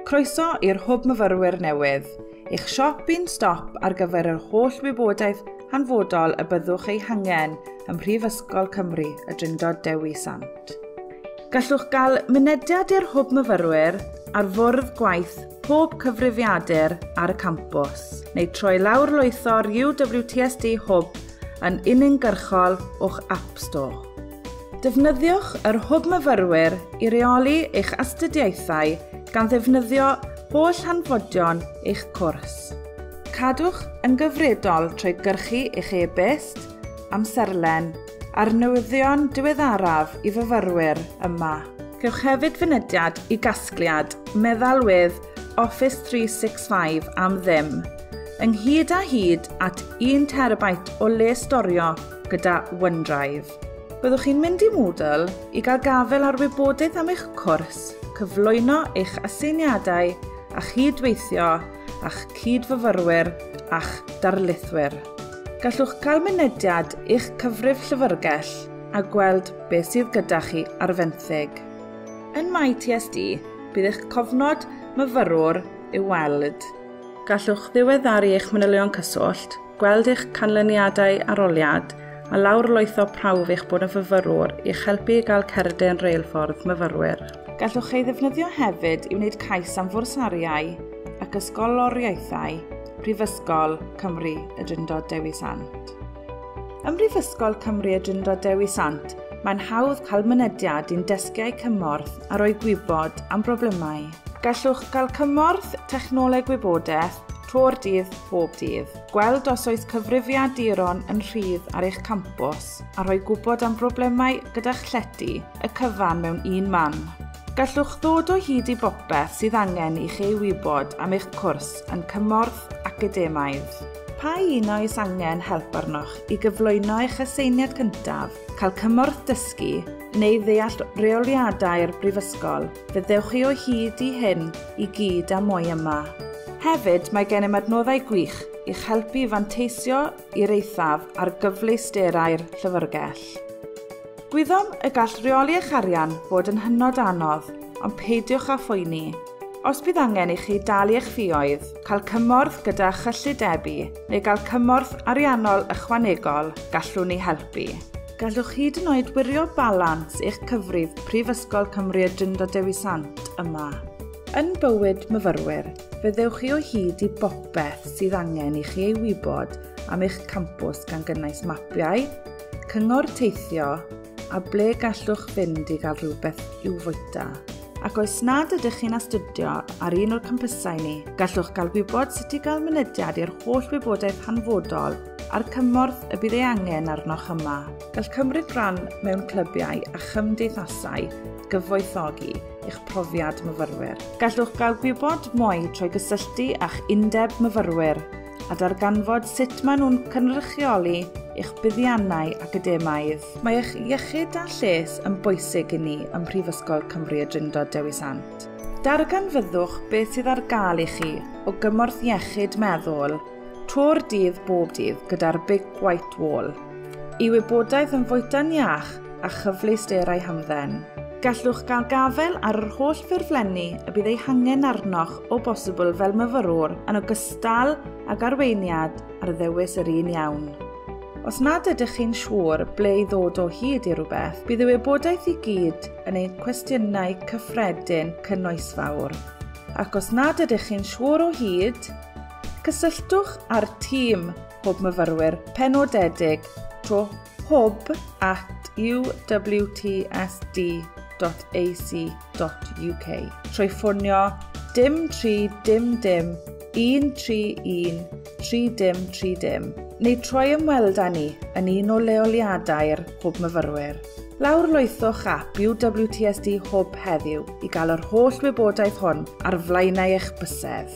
Croeso i'r Hwb Myfyrwyr newydd, eich siop un stop ar gyfer yr holl wybodaeth hanfodol y byddwch ei hangen ym Mhrifysgol Cymru, y Drindod Dewi Sant. Gallwch gael mynediad i'r Hwb Myfyrwyr ar fwrdd gwaith pob cyfrifiadur ar y campws, neu troi lawr lwytho'r UWTSD Hwb yn uniongyrchol o'ch App Store. Defnyddiwch yr Hwb Myfyrwyr i reoli eich astudiaethau gan ddefnyddio holl hanfodion eich cwrs. Cadwch yn gyfredol trwy gyrchu eich e-byst, amserlen a'r newyddion diweddaraf i fyfyrwyr yma. Cewch hefyd fynediad i gasgliad meddalwedd Office 365 am ddim. ynghyd â hyd at 1 terabyte o le storio gyda OneDrive. Byddwch chi'n mynd i Moodle i gael gafael ar wybodaeth am eich cwrs, cyflwyno eich aseiniadau a chyd-weithio â'ch cyd-fyfyrwyr a'ch darlithwyr. Gallwch gael mynediad i'ch cyfrif llyfrgell a gweld beth sydd gyda chi ar fenthyg. Yn MyTSD, bydd eich cofnod myfyrwr i'w weld. Gallwch ddiweddaru eich manylion cyswllt, gweld eich canlyniadau arholiad a lawrlwytho prawf eich bod yn fyfyrwr i'ch helpu i gael cerdyn reilffordd myfyrwyr. Gallwch ei ddefnyddio hefyd i wneud cais am fwrsariau ac ysgoloriaethau Prifysgol Cymru y Drindod Dewi Sant. Ym Mhrifysgol Cymru y Drindod Dewi Sant, mae'n hawdd cael mynediad i'n desgiau cymorth a rhoi gwybod am broblemau Gallwch gael cymorth Technoleg Wybodaeth tro'r dydd bob dydd. Gweld os oes cyfrifiaduron yn rhydd ar eich campws a rhoi gwybod am broblemau gyda'ch llety y cyfan mewn un man. Gallwch ddod o hyd i bopeth sydd angen i chi wybod am eich cwrs yn cymorth academaidd. Pa un oes angen help arnoch i gyflwyno eich aseiniad cyntaf, cael cymorth dysgu, neu ddeall rheoliadau'r Brifysgol, fe ddewch chi o hyd i hyn i gyd a mwy yma. Hefyd, mae gennym adnoddau gwych i'ch helpu i fanteisio i'r eithaf ar gyfleusterau'r Llyfrgell. Gwyddom y gall rheoli eich arian fod yn hynod anodd, ond peidiwch â phoeni. Os bydd angen i chi dalu eich ffioedd, cael cymorth gyda chyllidebu neu gael cymorth ariannol ychwanegol, gallwn ni helpu. Gallwch hyd yn oed wirio balans eich cyfrif Prifysgol Cymru y Drindod Dewi Sant yma. Yn bywyd myfyrwyr, fe ddewch chi o hyd i bopeth sydd angen i chi ei wybod am eich campws gan gynnwys mapiau, cyngor teithio a ble gallwch fynd i gael rhywbeth i'w fwyta. Ac oes nad ydych chi'n astudio ar un o'r campysau ni, gallwch gael gwybod sut i gael mynediad i'r holl wybodaeth hanfodol a'r cymorth y bydd ei angen arnoch yma. Gall cymryd rhan mewn clybiau a chymdeithasau gyfoethogi eich profiad myfyrwyr. Gallwch gael gwybod mwy trwy gysylltu â'ch undeb myfyrwyr a darganfod sut maen nhw'n cynrychioli eich buddiannau academaidd. Mae eich iechyd a lles yn bwysig i ni ym Mhrifysgol Cymru y Drindod Dewi Sant. Darganfyddwch beth sydd ar gael i chi o gymorth iechyd meddwl To'r dydd bob dydd gyda'r Big White Wall. I wybodaeth yn fwyta'n iach a chyfleus derau hamdden. Gallwch gael gafael ar yr holl ffurflenni y bydd eu hangen arnoch o bosibl fel myfyrwr yn ogystal ag arweiniad ar ddewis yr un iawn. Os nad ydych chi'n siŵr ble i ddod o hyd i rhywbeth, bydd y wybodaeth i gyd yn ein cwestiynau cyffredin cynnoesfawr. Ac os nad ydych chi'n siŵr o hyd, Cysylltwch â'r tîm Hwb Myfyrwyr penodedig trwy hwb at uwtsd.ac.uk trwy ffonio dim 3 dim dim 131 3 dim 3 dim neu troi ymweld â ni yn un o leoliadau'r Hwb Myfyrwyr. Lawr loethwch ap UWTSD Hwb heddiw i gael yr holl wybodaeth hwn ar flaenau eich bysedd.